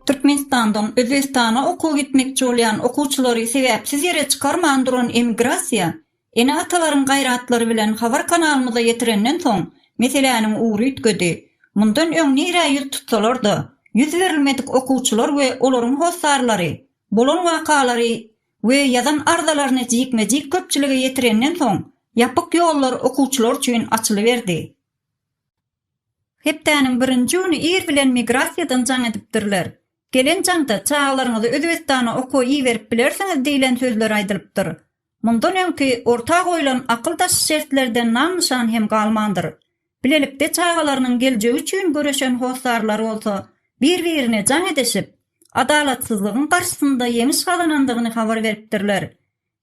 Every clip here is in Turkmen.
Türkmenistandan Özbegistana okuwa gitmekçi bolýan okuwçylary sebäpsiz ýere çykarman duran emigrasiýa, ene-atalaryň gaýratlary bilen habar kanalymyza ýetirenden soň, meseläniň ugry üýtgedi. Mundan öň nirä ýüz tutsalar-da, ýüz berilmedik okuwçylar we olaryň hossarlary bolan wakalary we ýazan arzalaryny jikme-jik köpçülige ýetirenden soň, ýapyk ýollar okuwçylar üçin açylyberdi. Hepdäniň birinji güni ir bilen migrasiýadan jaň edipdirler. Gelen jaňda çagalaryňyzy Özbegistana okuwa iberip bilersiňiz diýlen sözler aýdylypdyr. Mundan öňki orta goýlan akyldaş şertlerden nam-nyşan hem galmandyr. Bilelikde çagalarynyň geljegi üçin göreşen hossarlar bolsa bir-birine jaň edişip, adalatsyzlygyň garşysynda ýeňiş gazanandygyny habar beripdirler.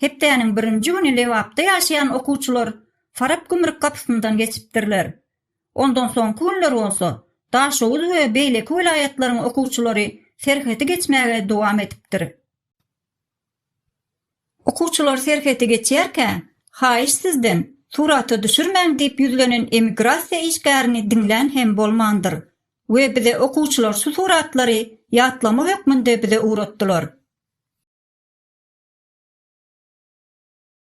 Hepdäniň birinji güni Lebapda ýaşaýan okuwçylar Farap gümrük gapysyndan geçipdirler. Ondan soňky günler bolsa, Daşoguz we beýleki welaýatlaryň okuwçylary serhedi geçmäge dowam edipdir. Okuwçylar serheti geçýärkä, Haýyş sizden, surata düşürmäň diýip ýüzlenen emigrasiýa işgärini diňlän hem bolmandyr. We bize okuwçylar şu suratlary ýatlama hökmünde bize ugratdylar.